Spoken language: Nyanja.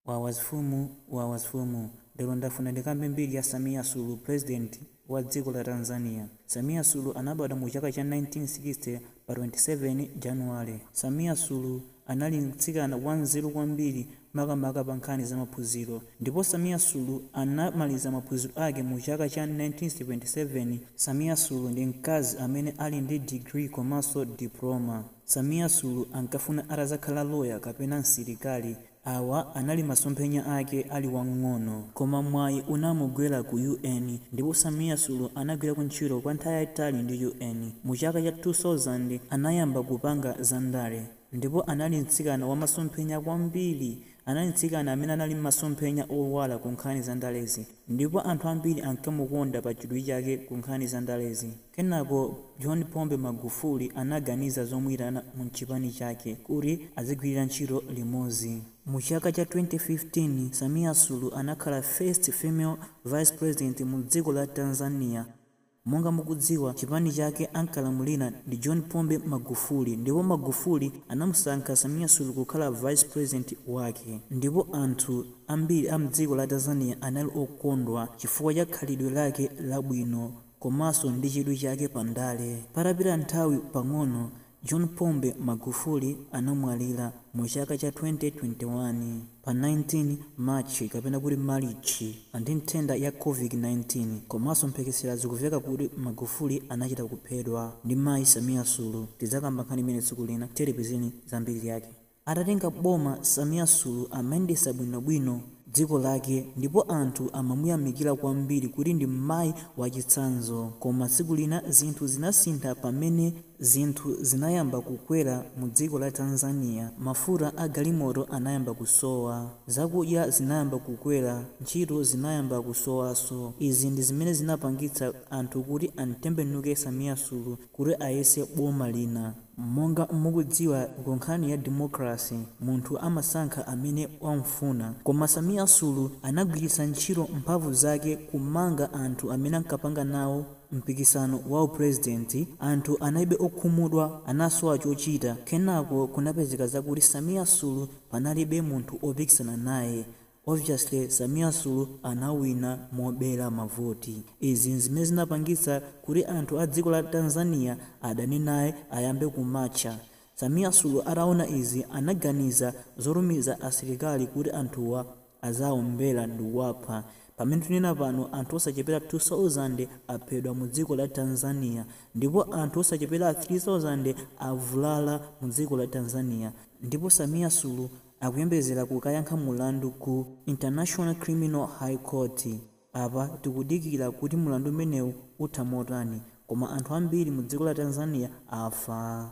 Wawa mfumu wawa mfumu lero ndafuna ndikambe mbiri ya Samia sulu president wa dziko la Tanzania Samia sulu anabadwa mu chaka cha 1960 pa 27 January Samia sulu anali mtsikana wa nzeru kwambiri makamaka pa nkhani za maphunziro ndipo Samia sulu anamaliza maphunziro ake mu chaka cha 1977 Samia sulu ndi mkazi amene ali ndi degree komanso diploma. Samia sulu ankafuna atazakhala lawyer kapena msilikali awa anali masomphenya ake ali wang'ono koma mwayi unamugwela ku UN ndipo Samia sulu anagwilako ntchito kwa nthawi yayitali ndi UN mu chaka cha 2000 anayamba kupanga za ndale ndipo anali mtsikana wamasomphenya kwambiri anali mtsikana amene anali mmasomphenya owala ku nkhani za ndalezi ndipo anthu ambiri ankamukonda pa chidwi chake ku nkhani za ndalezi. Kenako John Pombe Magufuli anaganiza zomuitana mu chipani chake kuti adzigwilira ntchito limodzi. Mu chaka cha 2015, Samia Sulu anakhala first female vice president mu dziko la Tanzania. Monga mukudziwa, chipani chake ankalamulira ndi John Pombe Magufuli ndipo Magufuli anamusankha Samia Sulu kukhala vice president wake. Ndipo anthu ambiri a mdziko la Tanzania anali okondwa chifukwa cha khalidwe lake labwino. komanso ndi chidwi chake pa ndale. Patapita nthawi pang'ono, John Pombe Magufuli anamwalira mu chaka cha 2021, pa 19 March kapena kuti Malichi, ndi nthenda ya Covid 19, komanso mphekesera zikuveka kuti Magufuli anachita kuphedwa ndi Mayi Samia Sulu. Tidzakamba nkhani imeneyi tsiku lina, tiye tipezeni za mbiri yake. Atatenga boma Samia Sulu amayendesa bwino bwino dziko lake ndipo anthu amamuyamikila kwambiri kuti ndi mmayi wachitsanzo koma tsiku lina zinthu zinasintha pamene zinthu zinayamba kukwera mu dziko la Tanzania mafuta a galimoto anayamba kusowa zakudya zinayamba kukwera ntchito zinayamba kusowaso izi ndi zimene zinapangitsa anthu kuti amtembenuke Samia Sulu kuti ayese boma lina. Monga mukudziwa ku nkhani ya democracy munthu amasankha amene wamfuna koma Samia Sulu anagwiritsa ntchito mphamvu zake kumanga anthu amene ankapanga nawo mpikisano wa u president anthu analibe okhumudwa anasowa chochita kenako kunapezeka zakuti Samia Sulu panalibe munthu opikisana naye Obviously Samia Sulu anawina mobera mavoti. Izi nzimene zinapangitsa kuti anthu a dziko la Tanzania adane naye ayambe kumatcha. Samia Sulu ataona izi anaganiza zotumiza asilikali kuti anthuwa aziwaombera ndikuwapha. Pamene tikunena pano anthu osachepera 2000 aphedwa mu dziko la Tanzania ndipo anthu osachepera 3000 avulala mu dziko la Tanzania ndipo Samia Sulu akuyembezera kukayankha mulandu ku International Criminal High Court. Apa tikudikira kuti mulandu umenewu utha motani koma anthu ambiri mu dziko la Tanzania afa.